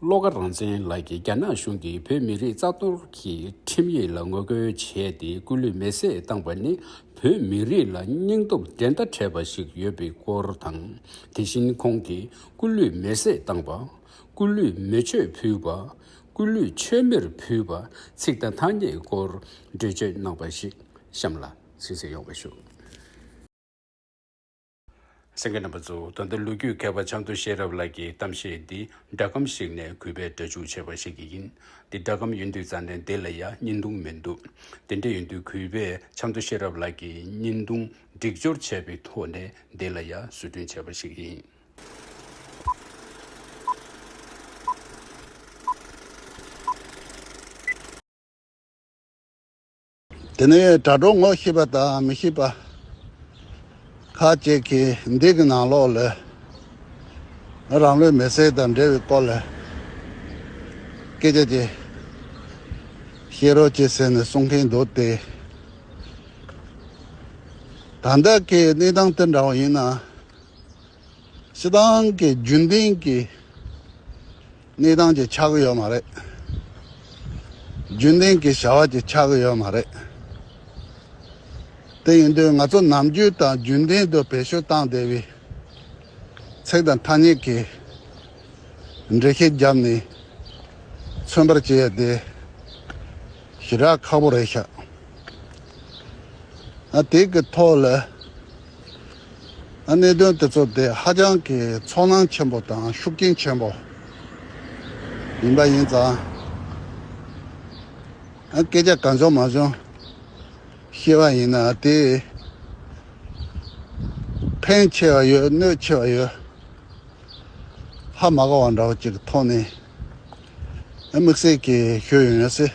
བློ་དགའ་རང་བཙན་ལགས་ཀྱིས་རྒྱ་ནག་གཞུང་གིས་བོད་མི་རིགས་རྩ་གཏོར་གྱི་ཁྲིམས་ཡིག་ལ་ངོ་རྒོལ་བྱས་ཏེ་སྐུ་ལུས་མེར་བསྲེགས་བཏང་བ་ནི་བོད་མི་རིགས་ལ་སྙིང་སྟོབས་འགྲན་ཟླ་བྲལ་བ་ཞིག་ཡོད་པའི་སྐོར་དང། དེ་བཞིན་ཁོང་གིས་སྐུ་ལུས་མེར་བསྲེགས་བཏང་བ། སྐུ་ལུས་མེ་མཆོད་ཕུལ་བ། སྐུ་ལུས་མཆོད་མེར་ཕུལ་བ་ཚིག་དང་ཐ་སྙད་སྐོར་འགྲེལ་བརྗོད་གནང་བ་ཞིག་གཤམ་ལ་གསན་གསན་ཡོང་བ་ཞུ། སེང་གེ་རྣམ་པ་གཙོ་བོ་ད་ལྟ་ལོ་རྒྱུས་མཁས་པ་བྱམས་དོ་ཤེས་རབ་ལགས་ཀྱིས་གཏམ་བཤད་འདི་སྒྲ་སྒམ་ཞིག་ནས་གུས་པས་སྒྲ་འཇུག་བྱས་པ་ཞིག་གིས་ཡིན། འདི་སྒྲ་སྒམ་ཡོད་དུས་རྩ་ནས་འདི་ལ་ཡ་བསྙིན་ཐུང་མི་འདུག་དེ་འདྲ་ཡོད་དུས་གུས་པས་བྱམས་དོ་ཤེས་རབ་ལགས་ཀྱིས་བསྙིན་ཐུང་སྒྲིག་སྦྱོར་བྱས་པའི་ཐོག་ནས་འདི་ལ་ཡ་བཟོ་སྐྲུན་བྱས་པ་ཞིག་ཡིན། དེ་ནས་དྲ་གྲོགས་ངོ་ཤེས་པ་དང་མི་ཤེས་པ་ཁག་ཅིག་གིས་འདི་གི་ནང་ལོགས་ལས་རང་ལུས་མེར་སྲེག་དང་འབྲེལ་བའི་སྐོར་ལ་སྐད་ཆ་ཅིག་བཤད་རོགས་གྱིས་ཟེར་ནས་གསུང་མཁན་འདུག་སྟེ། ད་ལྟ་གི་གནས་སྟངས་དེ་འདྲ་བ་ཡིན་ན། སྤྱི་བཏང་གི་རྒྱུན་ལྡན་གྱི། གནས་སྟངས་ཀྱི་ཆག་གི་ཡོད་མ་རེད། རྒྱུན་ལྡན་གྱི་བྱ་བ་ཀྱི་ཆག་གི་ཡོད་མ་རེད། དེ་ཡིན་དུས་ང་ཚོ་ནམ་རྒྱུན་དང་རྒྱུན་ལྡན་དུ་བེད་སྤྱོད་བཏང་བསྡད་པའི་ཚིག་དང་ཐ་སྙད་ཀྱི་འགྲེལ་བཤད་བརྒྱབ་ནས་མཚོན་པར་བྱེད་ཡ་དེ་ཞེ་དྲག་ཁག་པོ་རེད་ཤག་ཨ། དེ་གི་ཐོག་ལ། གནད་དོན་དེ་ཚོ་དེ་ཧ་ཅང་གི་ཚོར་སྣང་ཆེན་པོ་དང་ཤུགས་རྐྱེན་ཆེན་པོ་ཡིན་པ་ཡིན་ཙང། སྐད་ཆ་གང་བྱུང་མ་བྱུང་བཤད་པ་ཡིན་ན་དེས་ཕན་ཆེ་བ་ཡོད་གནོད་ཆེ་བ་ཡོད། ཧ་མ་གོ་བ་འདྲ་བོ་ཅིག་གི་ཐོག་ནས་དམིགས་བསལ་གྱིས་ཤོད་ཡོང་ཡོད་སྲིད།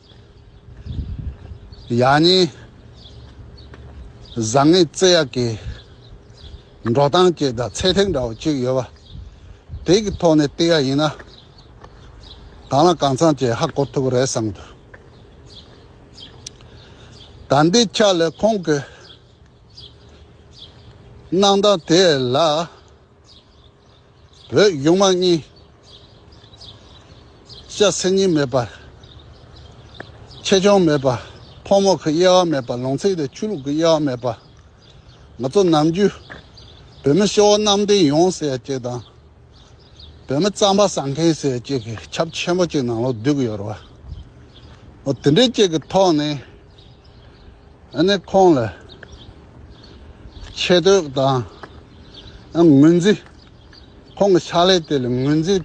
ཡག་ཉེས། བཟང་ངན་བརྩི་ཡག་གི་འགྲོ་སྟངས་བཅས་དང་ཚད་ཐིག་འདྲ་བོ་གཅིག་ཡོད་པ། དེ་གི་ཐོག་ནས་བརྟི་ཡག་ཡིན་ན་གང་ལ་གང་འཚམ་བཅས་ཧ་གོ་ཐུབ་རེད་བསམ་འདུག་ད་འདི་ཆ་ལས་ཁོང་གི་གནང་སྟངས་དེ་ལ། བོད་གཡུང་དམར་གཉིས། ཤ་གསེང་གཉིས་མེད་པར། ཆེ་ཆུང་མེད་པར། ཕོ་མོ་གི་དབྱེ་བ་མེད་པར་ལུང་ཚིག་དང་ཆོས་ལུགས་ཀྱི་དབྱེ་བ་མེད་པར། ང་ཚོ་ནམ་རྒྱུན། བོད་མི་ཤི་བོ་གནམ་བསྟན་ཡོང་ཟེར་ཅིག་དང། བོད་མི་རྩམ་པ་བཟའ་མཁན་ཟེར་ཅིག་གི་ཁྱབ་ཆེན་པོ་ཅིག་ནང་ལོག་བསྡུས་ཀྱི་ཡོད་རེད་བ། འོ་དེ་འདྲའི་ཅིག་གི་ཐོག་ནས། ནས་ཁོང་ལ་ཆེ་བསྟོད་དང་ངོས་འཛིན། ཁོང་གི་ཕྱག་ལས་དེ་ལ་ངོས་འཛིན་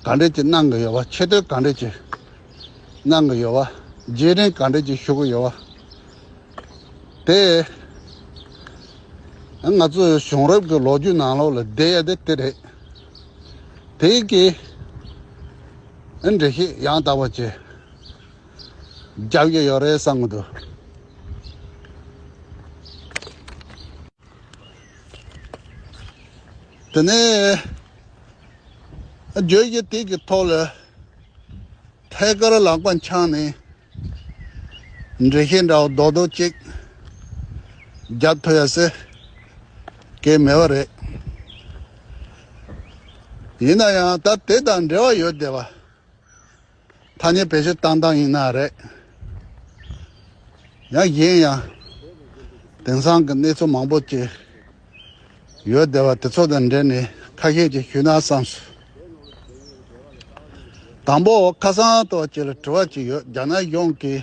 ག་འདྲ་ཅིག་གནང་གི་ཡོད་པ་ཆེ་བསྟོད་ག་འདྲ་ཅིག་གནང་གི་ཡོད་པ་རྗེས་དྲན་ག་འདྲ་ཅིག་ཞུ་གི་ཡོད་པ་དེ་ང་ཚོའི་གཞུང་རབས་ཀྱི་ལོ་རྒྱུས་ནང་ལོགས་ལ་བསྡད་ཡོད་དེ་དེ་རེད། དེའི་རྐྱེན་འགྲེལ་བཤད་ཡང་དག་པ་བྱས། རྒྱག་རྒྱུ་ཡོད་རེད་བསམ་གྱི་འདུག། དེ་ནས་རྗོད་བྱེད་དེ་གི་ཐོག་ལ་ཐད་ཀར་ལག་པ་འཆང་ནས་འབྲི་ཤེས་འདྲ་བོ་རྡོག་རྡོག་ཅིག་རྒྱབ་ཐུབ་ཡ་ཟེར་གི་མེད་པ་རེད། ཡིན་ན་ཡང་ད་དེ་དང་འབྲེལ་བ་ཡོད་བསྡད་པ། ཐ་སྙད་བེད་སྤྱོད་བཏང་སྟངས་ཡིན་ན་རེད། ཡང་གཞན་ཡང་དེང་སང་གི་གནས་ཚུལ་མང་པོ་ཅི་ཡོད་བསྡད་པ་དེ་ཚོ་དང་འབྲེལ་ནས་ཁ་ཤས་ཅིག་ཞུས་ན་བསམས་སོ། དང་པོ་ཁ་སང་ཏོག་ཅེར་དྲི་བ་ཅིག་ཡོད་རྒྱ་ནག་གཞུང་གིས་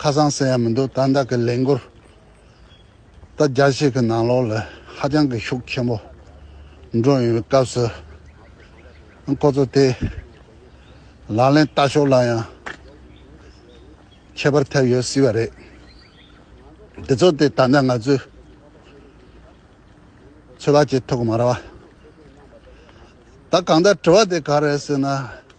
ཁ་སང་ཟེར་ཡ་མི་འདུག་ད་ལྟ་གི་ལས་འགུལ་ད་རྒྱ་ཞིག་གི་ནང་ལོགས་ལ་ཧ་ཅང་གི་ཤུགས་ཆེན་པོ་འགྲོ་ཡོང་བའི་སྐབས་སུ་ཁོ་ཚོ་དེ་ལག་ལེན་བསྟར་ཕྱོགས་ལ་ཡང་ཁྱད་པར་ཐེབས་ཡོད་སྲིད་པ་རེད། དེ་ཚོ་དེ་ད་ལྟ་ང་ཚོས་ཚོད་དཔག་བྱེད་ཐུབ་ཀྱི་མ་རེད་བ། ད་གང་ལྟར་དྲི་བ་དེ་ག་རེད་ཟེར་ན།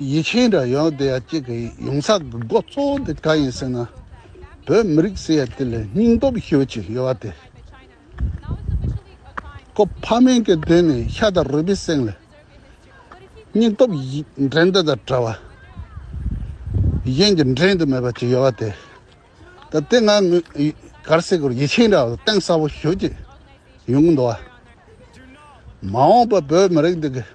ཡིད་ཆེས་འདྲ་ཡོད་དེ་ཡང་ཅིག་གི་ཡོང་ས་གི་འགོ་གཙོ་བོ་དེ་ག་ཡིན་ཟེར་ན་བོད་མི་རིགས་ཟེར་ཡ་དེ་ལས་སྙིང་སྟོབས་ཤོས་ཅིག་ཡོད་བ་དེ་ཀོ་ཕ་མེན་གྱི་དོན་ནི་ཤ་དང་རུས་པའི་གསེང་ལས་སྙིང་སྟོབས་འགྲན་ཟླ་དང་བྲལ་བ་གཞན་གྱིས་འགྲན་དུ་མེད་པ་ཅིག་ཡོད་བ་དེ་ད་ལྟའི་ང་གར་སེ་གོར་ཡིད་ཆེས་འདྲ་བ་གཏིང་ཟབ་བོ་ཤོས་ཅིག་ཡོང་གི་འདུག་བ་མ་འོངས་པ་བོད་མི་རིགས་འདི་གི།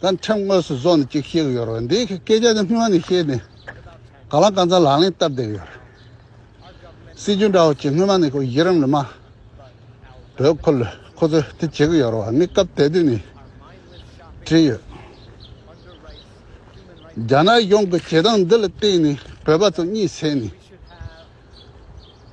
ད་ཕྲན་དངོས་སུ་བཟོ་ནས་ཅིག་བཤད་གི་ཡོད་རེད་འདི་སྐད་ཆ་དེ་སྔོན་ནས་བཤད་ནས་ག་ལ་གང་ཚ་ལག་ལེན་བསྟར་བསྡད་ཡོད་རེད་སྲིད་ཇུས་འདྲ་བོ་ཅིག་སྔོན་མ་ནས་གོ་ཡི་རང་ལ་མ་བོད་ཁོ་ལོས་ཁོ་ཚོས་དེ་བྱེད་གི་ཡོད་རེད་བ་ངས་སྐབས་དེ་དུས་ནས་བྲིས་ཡོད་རྒྱ་ནག་གཞུང་གི་བྱེད་སྟངས་འདི་ལ་བརྟེན་ནས་བོད་པ་ཚོ་གཉིད་སད་ནས།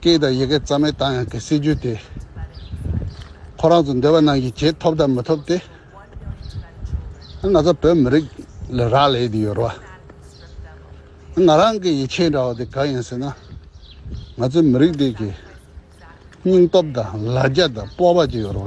སྐད་དང་ཡི་གེ་རྩ་མེད་བཏང་ཡང་གི་སྲིད་ཇུས་དེ་ཁོ་རང་ཚོ་འདོད་པ་རྣམས་ཀྱི་བྱེད་ཐོབ་དང་མི་ཐོབ་དེ་ང་ཚོ་བོད་མི་རིགས་ལ་རག་ལས་དེ་ཡོད་རོ། ང་རང་གི་ཡིད་ཆེས་འདྲ་བ་དེ་གང་ཡིན་ཟེར་ན་ང་ཚོའི་མི་རིགས་དེ་གི་སྙིང་སྟོབས་དང་ལ་རྒྱ་དང་སྤོབས་པ་ཅིག་ཡོད་རོ།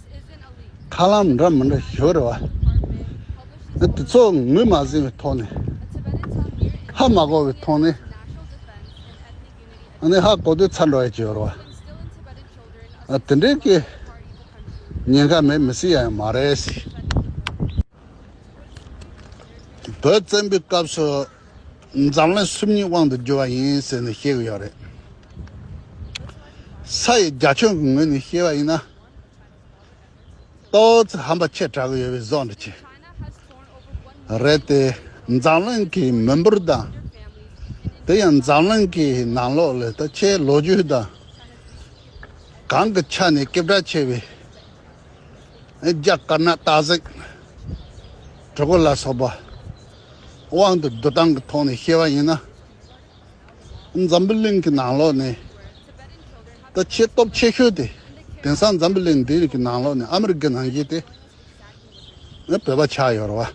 ཁ་ལམ་འདྲ་མི་འདྲ་ཞིག་རེད་བ། དེ་ཚོ་ངོས་མ་ཟིན་བའི་ཐོག་ནས། ཧ་མ་གོ་བའི་ཐོག་ནས། ཧ་གོ་དུས་ཚར་འགྲོ་ཡ་གྱི་རེད་བ། དེ་འདྲའི་སྐད་ཉན་ཁ་མེད་མི་སྲིད་ཡ་ཡང་མ་རེད་སྲིད། བོད་བཙན་པོའི་སྐབས་སུ་འཛམ་གླིང་སུམ་གཉིས་དབང་དུ་གྱུར་བ་ཡིན་ཟེར་ནས་བཤད་གི་ཡོད་རེད། ས་ཡི་རྒྱ་ཁྱོན་གྱི་ངོས་ནས་བཤད་པ་ཡིན་ན། ཏོག་ཙེ་ཧམ་པ་ཆེ་དྲགས་ཡོད་པའི་བཟོ་འདྲ་བྱེད་རེད་དེ། འཛམ་གླིང་གི་མི་འབོར་དང། དེ་ཡང་འཛམ་གླིང་གི་ནང་ལོགས་ལས་ད་ཆའི་ལོ་རྒྱུས་དང། གང་གི་ཆ་ནས་སྐྱེ་བྲག་ཆེ་བའི་རྒྱ་དཀར་ནག་སྟག་གཟིག། གྲི་གུ་ལ་སོགས་པ་དབང་དུ་བསྡུ་སྟངས་ཀྱི་ཐོག་ནས་བཤད་པ་ཡིན་ན། འཛམ་བུ་གླིང་གི་ནང་ལོགས་ནས་ད་ཆའི་སྟོབས་ཆེ་ཤོས་དེ་དེང་སང་འཛམ་བུ་གླིང་འདིར་གི་ནང་ལོགས་ནས་ཨ་མི་རི་ཀ་ནང་གི་དེ་ནི་བོད་པ་ཆགས་ཡོད་ར་བ།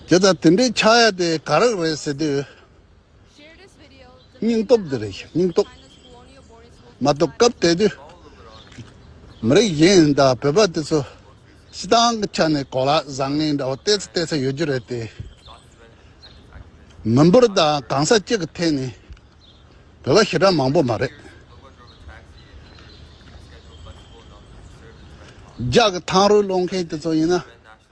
དེ་ད་དེ་འདྲའི་ཆགས་ཡ་དེ་ག་རག་རེད་ཟེར་དུས། སྙིང་སྟོབས་འདི་རེད་ཤག་སྙིང་སྟོབས། མ་གཏོགས་སྐབས་དེ་དུས་མི་རིགས་གཞན་དང་བོད་པ་དེ་ཚོ་སྤྱི་བཏང་གི་ཆ་ནས་གོ་ལ་བཟང་ངན་འདྲ་བོ་བལྟས་ཚེ་བལྟས་ས་ཡོད་རྒྱུ་རེད་དེ། མི་འབོར་དང་གང་ས་གཅིག་གི་ཐད་ནས་བོད་པ་ཞེ་དྲག་མང་པོ་མ་རེད། རྒྱ་གི་ཐང་རུ་སློང་མཁན་དེ་ཚོ་ཡིན་ན།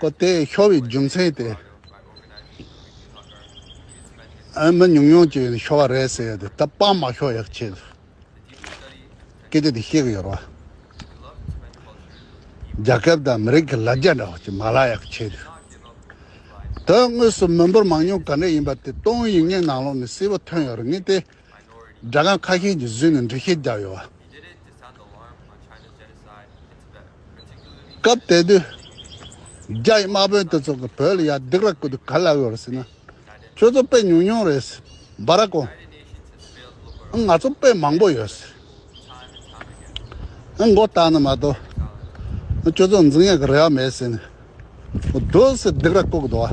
ཀོ་ལྟས་ཤོར་བའི་རྒྱུ་མཚན་དེ་ཨ་མི་ཉུང་ཉུང་ཅིག་ཤོར་བ་རེད་ཟེར་ཡོད་དེ་ད་པང་མ་ཤོར་ཡག་ཆེད་དུ་སྐད་ཆ་དེ་བཤད་གི་ཡོད་རེད། རྒྱ་ཁབ་དང་མི་རིགས་ཀྱི་ལ་རྒྱ་འདྲ་བ་ཅིག་མ་ལག་ཡག་ཆེད་དུ་དོན་དངོས་སུ་མི་འབོར་མང་ཉུང་ག་འདྲ་ཡིན་པ་དེ་སྟོང་ཡིག་ངེས་ནང་ལོག་ནས་གསལ་བོ་ཐོན་ཡོད་རེད་ངེས་ཏེ་སྦྲ་ཁང་ཁ་ཤས་ཀྱི་བཟོས་ནས་འབྲི་ཤེས་རྒྱག་ཡོད། སྐབས་དེ་དུས་རྒྱ་ཡི་དམག་དཔོན་དེ་ཚོ་གི་བོད་ལ་ཡར་རྡེག་ར་བསྐུར་དུས་ག་ལ་ཡོད་ཟེར་ན། ཁྱོད་ཚོ་དཔེ་ཉུང་ཉུང་རེད་ཟེར་འབའ་ར་གོ། ཨ་ང་ཚོ་དཔེ་མང་པོ་ཡོད་ཟེར། ཨ་མགོ་བཏགས་ནས་མ་གཏོགས་ཁྱོད་ཚོ་འཛིང་ཡག་གི་རེ་བ་མེད་ཟེར་ནས། རྡོ་ཟེར་རྡེག་ར་བསྐུར་གི་འདུག་བ།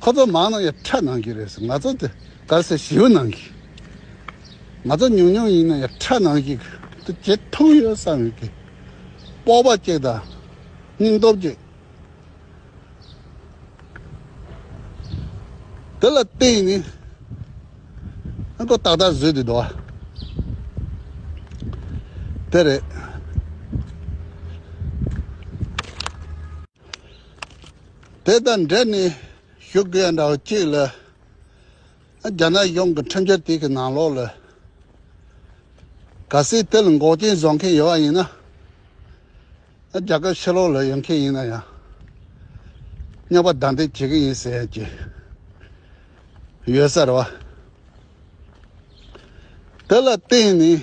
ཁོ་ཚོ་མང་ན་ཡང་ཁྲག་ནང་གི་རེད་ང་ཚོ་དེ་གར་སའི་བྱིའུ་ནང་གི། ང་ཚོ་ཉུང་ཉུང་ཡིན་ན་ཡང་ཁྲག་ནང་གི་དེ་ཇེ་ཐུང་ཡོད་བསམ་ཡོད་གི། སྤོབས་པ་གཅིག་དང་སྙིང་སྟོབས་གཅིག། དེ་ལ་བརྟེན་ནས་ཨ་མགོ་ཏག་ཏག་བཟོས་དུས་འགྲོ་བ་དེ་རེད། དེ་དང་འབྲེལ་ནས་ཞུ་དགོས་ཡང་འདྲ་བ་གཅིག་ལ། རྒྱ་ནག་གཞུང་གི་ཁྲིམས་འཆར་དེ་གི་ནང་ལོགས་ལ། ག་སྲིད་དེ་ལ་འགོག་རྐྱེན་བཟོ་མཁན་ཡོད་པ་ཡིན་ན། རྒྱ་གར་ཕྱི་ལོགས་ལ་ཡོད་མཁན་ཡིན་ན་ཡང། རྙོག་པ་བདའ་འདེད་བྱེད་ཀྱི་ཡིན་ཟེར་ཡང་ཅི། ཡོད་ས་རེད་བ། དེ་ལ་བརྟེན་ནས།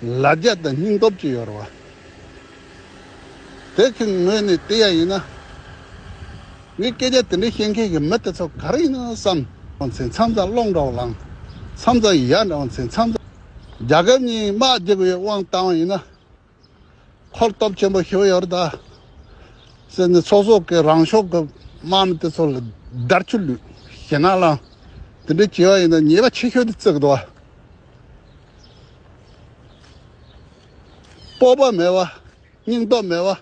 ལ་རྒྱ་དང་སྙིང་སྟོབས་ཀྱི་ཡོར་བ། དེ་ཚོའི་ངོས་ནས་བལྟས་ཡ་ཡིན་ན། ངས་སྐད་ཆ་དེ་འདྲ་བཤད་མཁན་གྱི་མི་དེ་ཚོ་ག་རེ་ཡིན་ནམ་བསམ། བ་ཚེ་མཚམས་ཚ་གློག་འདྲ་བོ་ལངས། མཚམས་ཚ་ཡི་ཡག་འདྲ་བ་ཚེ་མཚམས་ཚ། རྒྱ་ཁབ་གཉིས་དམག་རྒྱག་དགོས་ཡོད་དབང་བཏང་བ་ཡིན་ན། འཁོར་སྟོབས་ཆེན་པོ་ཞུ་ཡོར་ད། སེ་ནི་ཚོགས་གསོག་གི་རང་ཕྱོགས་ཀྱི་དམག་མི་དེ་ཚོ་ལ་བརྡར་ཆུ་བླུད། ཞེ་ནག་ལངས། དེ་འདྲ་བྱས་བ་ཡིན་ན་ཉེས་པ་ཆེ་ཤོས་དེ་བརྩི་གི་འདུག་བ། སྤོབས་པ་མེད་པ། སྙིང་སྟོབས་མེད་པ།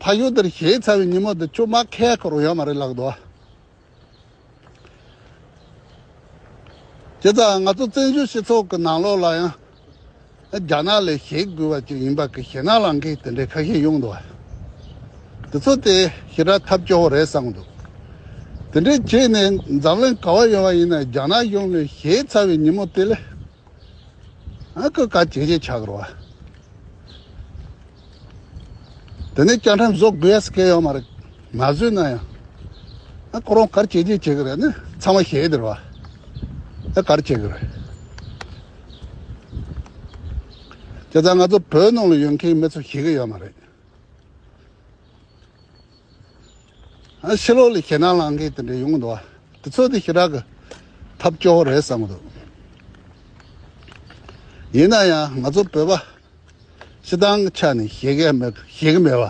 ཕ་ཡུལ་དེར་གཞས་ཚར་བའི་ཉིན་མོ་དེ་ཅུང་མ་ཁེགས་ཁོ་རང་ཡོད་མ་རེད་ལགས་དོ། དེ་ཙམ་ང་ཚོ་བཙན་བྱོལ་སྤྱི་ཚོགས་ཀྱི་ནང་ལོགས་ལ་ཡང། རྒྱ་ནག་ལས་ཞེད་དགོས་པ་ཅིག་ཡིན་པ་གི་ཞེད་ནག་ལང་གིས་དེ་འདྲའི་ཁ་ཞེ་གཡུག་འདུག་དེ་ཚོ་དེ་ཞེ་དྲག་ཐབས་སྐྱོ་བོ་རེད་བསམ་འདུག་དེ་འདྲའི་བྱས་ནས་འཛམ་གླིང་ག་བ་ཡོང་བ་ཡིན་ན་རྒྱ་ནག་གཞུང་ལས་ཞེད་ཚ་བའི་ཉིན་མོ་དེ་ལས་ཨ་ཁུ་ག་བྱེད་བྱེད་ཆགས་རོགས། དེ་ནས་བཅའ་ཁྲིམས་བཟོ་དགོས་ཟེར་སྐད་ཡོད་མ་རེད། མ་བཟོས་ན་ཡང། ཨ་ཁོ་རང་གར་བྱེད་ཀྱི་བྱེད་ཀྱི་རེད་ནི་ཚང་མ་ཤེས་དེར་བ། ཨ་གར་བྱེད་ཀྱི་རེད། དེ་ལྟར་ང་ཚོ་བོད་ནང་ལ་ཡོད་མཁན་མི་ཚོ་ཤེས་ཀྱི་ཡོད་མ་རེད། ཨ་ཕྱི་ལོགས་ལ་ཞེད་སྣང་ལངས་མཁན་དེ་འདྲ་ཡོང་གི་འདུག་བ། དེ་ཚོ་དེ་ཞེ་དྲག་གི་ཐབས་སྐྱོ་བོ་རེད་བསམ་གྱི་འདུག། ཡིན་ན་ཡང་ང་ཚོ་བོད་པ། སྤྱི་བཏང་གི་ཆ་ནས་བཞེས་ཀྱི་མེད་པ་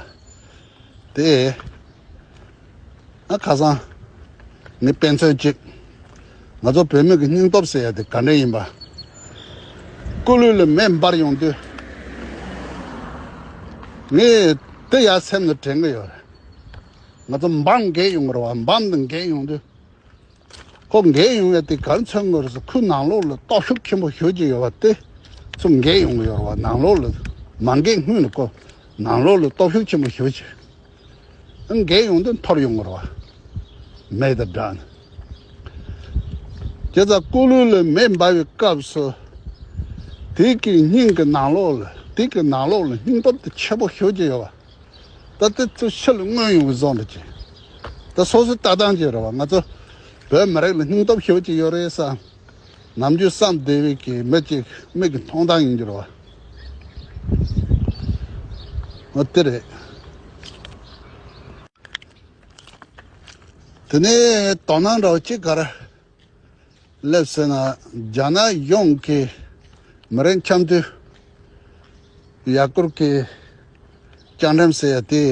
དེ། ཁ་སང་ནི་དཔེ་མཚོན་གཅིག་ང་ཚོ་བོད་མི་གི་སྙིང་སྟོབས་ཟེར་ཡ་དེ་ག་འདྲ་ཡིན་པ། སྐུ་ལུས་ལ་མེ་འབར་ཡོང་དུས་ངས་དེ་ཡ་སེམས་ལ་དྲན་གྱི་ཡོད་རེད། ང་ཚོ་འབངས་རྒས་ཡོང་རེད་བ་འབངས་འདི་རྒས་ཡོང་དུས་ཁོ་འགས་ཡོང་ཡ་དེ་གར་མཚོན་དངོས་སུ་ཁོའི་ནང་ལོགས་ལ་རྟོག་ཞིབ་ཆེན་པོ་ཞུ་གྱི་ཡོད་པ་དེ་ཚོ་འགས་ཡོང་གི་ཡོད་རེད་བ་ནང་ལོགས་ལ་མ་འགས་སྔོན་ལ་ཁོ་ནང་ལོགས་ལ་རྟོག་ཞིབ་ཆེན་པོ་ཞུ་ཆེད་འགས་ཡོང་དོན་ཐོབ་ཡོང་གི་རེད་བ་མེད་དེ་འདྲ་ནི་ཁྱེད་ཚ་སྐུ་ལུས་ལ་མེ་འབར་བའི་སྐབས་སུ་དེ་གིས་སྙིང་གི་ནང་ལོགས་ལ་དེ་གིས་ནང་ལོགས་ལ་སྙིང་སྟོབས་དེ་ཆེན་པོ་ཞུ་གྱི་ཡོད་བ། ད་ལྟ་ཚོས་ཕྱི་ལ་མངོན་ཡོང་བའི་བཟོ་འདྲ་བྱེད། ད་སོ་སོའི་ལྟ་སྟངས་ཀྱིས་རེད་བ་ང་ཚོ་བོད་མི་རིགས་ལ་སྙིང་སྟོབས་ཤོད་ཀྱི་ཡོད་རེད་བསམ། ནམ་རྒྱུན་བསམ་བདེ་བའི་གི་མི་ཅིག་མིག་གི་མཐོང་སྟངས་ཡིན་རྒྱུར་བ། ཨོ་དེ་རེད། དེ་ནས་དོ་སྣང་འདྲ་བ་ཅིག་ག་རེ་སླེབས་ཟེར་ན་རྒྱ་ནག་ཡོངས་ཀྱི་མི་རིགས་འཆམ་མཐུན་ཡར་སྐོར་གྱི་བཅའ་འགྲམ་ཟེར་ཡ་དེ་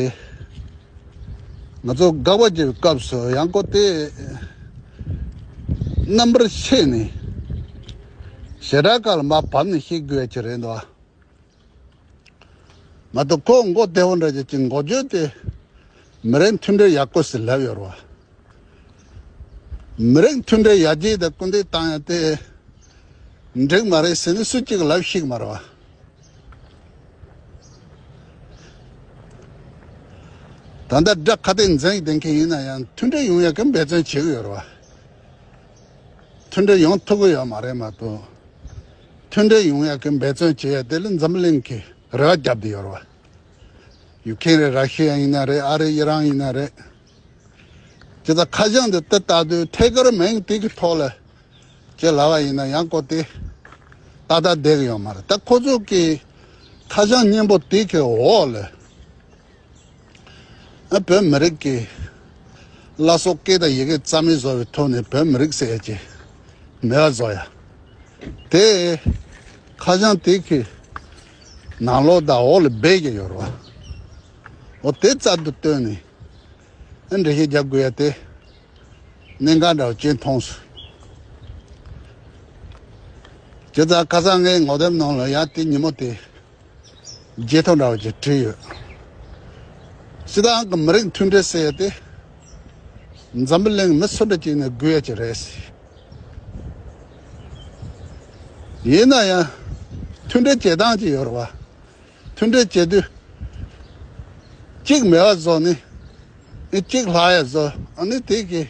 ང་ཚོ་དགའ་བ་བྱེད་པའི་སྐབས་སུ་ཡང་སྐོར་དེ་རྣམ་པར་ཕྱེས་ནས་ཞེ་དྲག་ཁ་ལ་མ་བབས་ནས་ཤི་དགོས་ཀྱི་རེད་འདུག། ང་ཚོ་ཀོང་མགོ་ལྟེ་བ་འདྲ་བྱས་ཀྱི་མགོ་བརྗོད་དེ་མི་རིགས་མཐུན་སྒྲིལ་ཡག་པོ་ཞིག་ལབ་ཡོད་རེད། མི་རིགས་མཐུན་སྒྲིལ་ཡག་རྒྱས་དང་སྐུལ་འདེད་བཏང་ཡོད་དེ་འགྲིག་མ་རེད་ཟེར་ནས་སུ་གཅིག་ལབ་ཤེས་ཀྱི་མ་རེད། ད་ལྟ་དགྲ་ཁ་དན་འཛིན་བྱེད་མཁན་ཡིན་ན་ཡང་མཐུན་སྒྲིལ་ཡོང་ཡག་གི་འབད་བརྩོན་བྱེད་ཀྱི་ཡོད་རེད། མཐུན་སྒྲིལ་ཡོང་ཐུབ་ཀྱི་ཡོད་མ་རེད་མ་གཏོགས་མཐུན་སྒྲིལ་ཡོང་ཡག་གི་འབད་བརྩོན་བྱེད་ཡག་དེ་ལས་འཛམ་གླིང་གི་རེ་བ་རྒྱབ་དེ་ཡོད་རེད། ཡུག་ཁེན་རེད་ར་ཤི་ཡ་ཡིན་ན་རེད་ཨ་རི་ཨི་རང་ཡིན་ན་རེད། ཇི་ལྟར་ཁ་བྱང་འདི་ཏི་ལྟ་དུས་ཐད་ཀར་མིང་དེ་གི་ཐོག་ལ་བྱེད་ལ་བ་ཡིན་ན་ཡང་གོ་དེ་ཏག་ཏག་བསྡད་ཀྱི་ཡོད་མ་རེད་ད་ཁོ་ཚོ་གི་ཁ་བྱང་སྙན་པོ་དེ་གི་འོག་ལ། བོད་མི་རིགས་ཀྱི་བླ་སྲོག་སྐད་དང་ཡི་གེ་རྩ་མེད་བཟོ་བའི་ཐོག་ནས་བོད་མི་རིགས་ཟེར་ཡ་ཅི་མེད་པ་བཟོ་ཡ། དེ་ཁ་བྱང་དེ་གི་ནང་ལོག་དང་འོག་ལ་སྦས་ཀྱི་ཡོད་རེད་བ། འོ་དེ་རྩ་དུ་བཏོན་ནས་ཨ་འགྲེལ་བཤད་རྒྱབ་དགོས་ཡ་དེ་གནད་འགག་འདྲ་བ་གཅིག་མཐོང་སོང། ཁྱེད་རང་ཁ་སང་ངའི་ངོ་དེབ་ནང་ལ་ཡང་དེ་ཉིན་མོ་དེ་བརྗེད་ཐོ་འདྲ་བོ་ཅིག་བྲིས་ཡོད། སི་ཏང་གི་མི་རིགས་མཐུན་སྒྲིལ་ཟེར་ཡོད་དེ། འཛམ་བུ་གླིང་མི་སུ་འདྲ་ཅིག་ནས་བསྒུལ་ཡོད་ཅིག་རེད་སྲིད། ཡིན་ན་ཡང་མཐུན་སྒྲིལ་བྱེད་སྟངས་ཅིག་ཡོད་རེད་བ། མཐུན་སྒྲིལ་བྱེད་དུས་གཅིག་མེ་བ་བཟོ་ནི་གཅིག་ལྷ་ཡས་བཟོ་ཨ་ནི་དེ་གིས་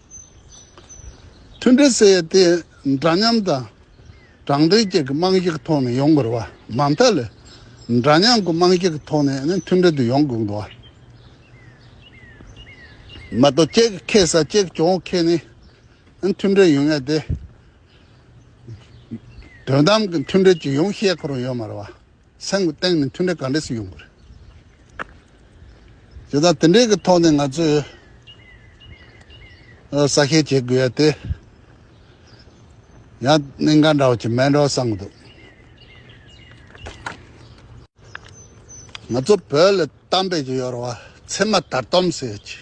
མཐུན་སྒྲིལ་བསལ་ཏེ་འདྲ་མཉམ་དང་དྲང་བདེན་བཅས་ཀྱི་རྨང་གཞི་གི་ཐོག་ནས་ཡོང་དགོས་པ། མ་མཐའ་ལས་འདྲ་མཉམ་གྱི་རྨང་གཞི་གི་ཐོག་ནས་མཐུན་སྒྲིལ་དུ་ཡོང་དགོས་པ། མ་གཏོགས་གཅིག་གིས་ཁེ་ས་གཅིག་གིས་གྱོང་ཁེ་ནི་མཐུན་སྒྲིལ་ཡོང་ངེས་ཏེ། དོན་དམ་གྱི་མཐུན་སྒྲིལ་ཅི་ཡོང་ཤེས་ཁོ་རང་ཡོད་མ་རེད་བ། སེམས་ཀྱི་སྟེང་ནས་མཐུན་འབྲེལ་ག་འདྲས་སུ་ཡོང་གི་རེད། དེ་དག་དེ་འདྲའི་གི་ཐོག་ནས་ང་ཚོས་གསལ་ཤད་བྱེད་དགོས་ཡ་དེ། ཡང་གནས་འགའ་འདྲ་བ་ཆེ་མེད་འདྲ་བ་བསམ་གི་འདུག། ང་ཚོ་བོད་ལ་གཏམ་དཔེ་ཅིག་ཡོད་རེད་བ་ཚེ་མ་དར་དོམ་ཟེར་ཡོད་ཅིག།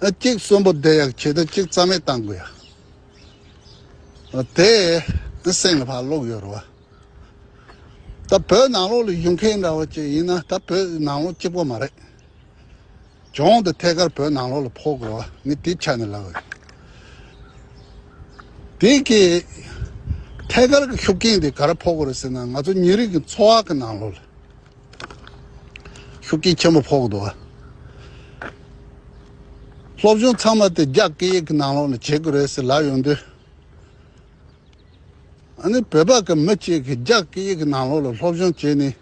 གཅིག་གསོན་པོ་བསྡད་ཡག་བྱེད་དུ་གཅིག་རྩ་མེད་བཏང་དགོས་ཡ། དེ་སེམས་ལ་བག་ལོག་ཡོད་རེད་བ། ད་བོད་ནང་ལོག་ལ་ཡུལ་མཁན་འདྲ་བོ་གཅིག་ཡིན་ན་ད་བོད་ནང་ལོག་གཅིག་པོ་མ་རེད། གྱོང་དུ་ཐད་ཀར་བོད་ནང་ལོག་ལ་ཕོག་དགོས་བ་ངས་དེ་ཆ་ནས་ལབ་ཡོད། དེ་གི་ཐད་ཀར་གི་ཤུགས་རྐྱེན་དེ་ག་རེ་ཕོག་གོ་རེད་ཟེར་ན་ང་ཚོ་མྱི་རིགས་ཀྱི་འཚོ་བ་གི་ནང་ལོག་ལ། ཤུགས་རྐྱེན་ཆེན་པོ་ཕོག་འདུག་སློབ་སྦྱོང་ཚང་མ་དེ་རྒྱ་སྐད་ཡིག་གི་ནང་ལོགས་ནས་བྱེད་དགོས་རེད་ཟེར་ལབ་ཡོང་དུས། ཨ་ནི་བོད་པ་གི་མི་གཅིག་གིས་རྒྱ་སྐད་ཡིག་གི་ནང་ལོགས་ལ་སློབ་སྦྱོང་བྱས་ནས་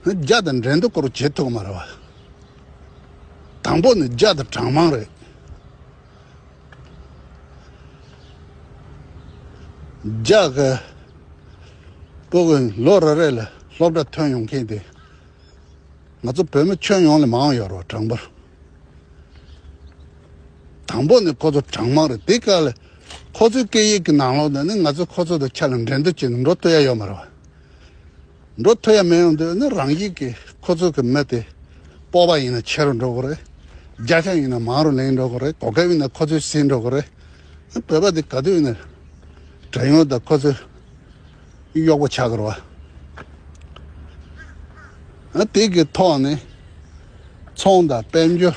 རྒྱ་དང་འབྲེལ་འདྲིས་སྐོར་བྱེད་ཐུབ་མ་རེད་བ། དང་པོ་ནི་རྒྱ་དང་གྲངས་མང་རེད། ལྗགས་པོ་གིས་ལོ་རེ་རེ་ལ་སློབ་གྲྭ་ཐོན་ཡོང་མཁན་དེ་ང་ཚོ་བོད་མི་ཁྱོན་ཡོངས་ལས་མང་ཡོད་རོགས་དྲང་པོ། དང་པོ་ནི་ཁོ་ཚོ་གྲངས་མང་རེད་དེ་ག་ལ་ཁོ་ཚོའི་སྐད་ཡིག་གི་ནང་ལོགས་ན་ནི་ང་ཚོས་ཁོ་ཚོ་དང་ཆ་ལ་འགྲན་བསྡུར་བྱས་ནས་འགྲོ་བསྟོད་ཡ་ཡོད་མ་རེད་བ། འགྲོ་ཐུ་ཡ་མེད་ཡོང་དུས་ནི་རང་ཡིག་གི་ཁོ་ཚོ་གི་མི་དེ་སྤོ་བ་ཡིན་ན་ཆེ་རུ་འགྲོ་གི་རེད་རྒྱ་ཆ་ཡིན་ན་མང་རུ་ལེན་འགྲོ་གི་རེད་གོ་སྐབས་ཡིན་ན་ཁོ་ཚོའི་སྲིད་འགྲོ་གི་རེད་བོད་པ་དེ་ག་དུས་ནས་དྲན་ཡོང་དང་ཁོ་ཚོའི་གཡོག་པོ་ཆག་གི་རེད་བ་དེ་གི་ཐོག་ནས་ཚོང་དང་དཔལ་འབྱོར།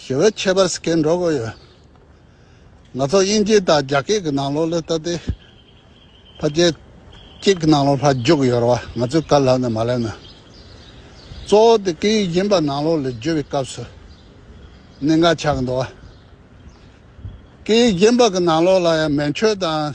ཞི་བའི་ཁྱད་པར་སྐྱེ་འགྲོ་དགོས་ཡོད། ང་ཚོ་དབྱིན་ཇི་དང་རྒྱ་སྐད་ཀྱི་ནང་ལོགས་ལས་ལྟ་སྟེ། ཕ་རྒྱལ་སྐད་ཀྱི་ནང་ལོགས་ལྷག་འཇུག་ཡོད་རེད་བ་ང་ཚོས་དཀའ་ལྷག་ནས་མ་ལས་ན། གཙོ་བོ་དེ་སྐད་ཡིག་གཞན་པ་ནང་ལོགས་ལས་བརྗོད་པའི་སྐབས་སུ་གནད་འགག་ཆགས་ཀྱི་འདུག་བ། སྐད་ཡིག་གཞན་པ་གི་ནང་ལོགས་ལ་ཡང་མན་ཆོད་དང།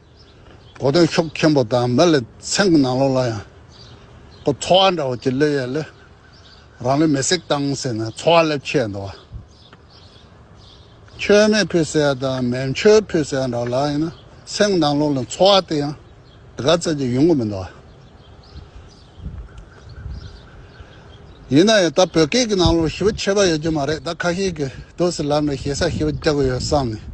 གོ་སྟོན་ཤོག་མཁན་པོ་དང་མི་ལ་ཚན་གྱི་ནང་ལོགས་ལ་ཡང་ཁོ་འཚོ་བ་འདྲ་བོ་ཅིག་སླེབས་ཡས་ལས་རང་ལུས་མེ་སྲེག་བཏང་ཟེར་ནས་འཚོ་བ་སླེབས་ཆས་འདུག་བ། མཆོད་མེ་ཕུད་ཟེར་ཡ་དང་མེ་མཆོད་ཕུད་ཟེར་ཡ་འདྲ་བོ་ལ་ཡིན་ན་ཚན་གྱི་ནང་ལོགས་ལ་འཚོ་བ་དེ་ཡང་དེ་ག་ཚད་ཅིག་ཡོང་གི་མི་འདུག་བ། ཡིན་ན་ཡང་ད་བོད་སྐད་ཀྱི་ནང་ལོགས་ཞི་བ་ཆད་པ་ཡོད་ཀྱི་མ་རེད་ད་ཁ་ཤས་ཀྱིས་དུས་སུ་ལམ་ནས་ཞེ་ས་ཞི་བ་རྒྱག་གི་ཡོད་བསམ་ནས།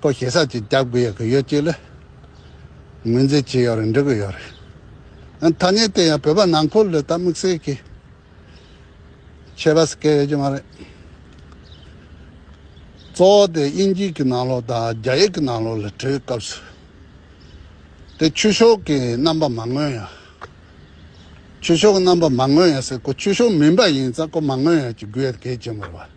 པོ་ཞེ་ས་ཅིག་རྒྱག་དགོས་ཡག་གི་ཡོད་ཅིག་ལ། ངོས་འཛིན་བྱེད་ཡག་རེད་འགྲིག་གི་ཡོད་རེད། ཐ་སྙད་དེ་ཡང་བོད་པ་ནང་འཁོར་ལོས་ད་དམིགས་བསལ་གྱི་ཆད་པ་ཟེར་སྐད་ཡོད་ཀྱི་མ་རེད། གཙོ་བོ་དེ་དབྱིན་ཇིས་ཀྱི་ནང་ལོག་དང་རྒྱ་ཡིག་གི་ནང་ལོག་ལ་བྲོས་སྐབས་སུ། དེ་ཆོས་ཕྱོགས་ཀྱི་རྣམ་པ་མ་མངོན་ཡང། ཆོས་ཕྱོགས་ཀྱི་རྣམ་པ་མ་མངོན་ཡང་སེ་གོ་ཆོས་ཕྱོགས་མིན་པ་ཡིན་ཙང་གོ་མ་མངོན་ཡང་ཅིག་དགོས་ཡོད་གལ་ཆེན་པོ་རེད་བ།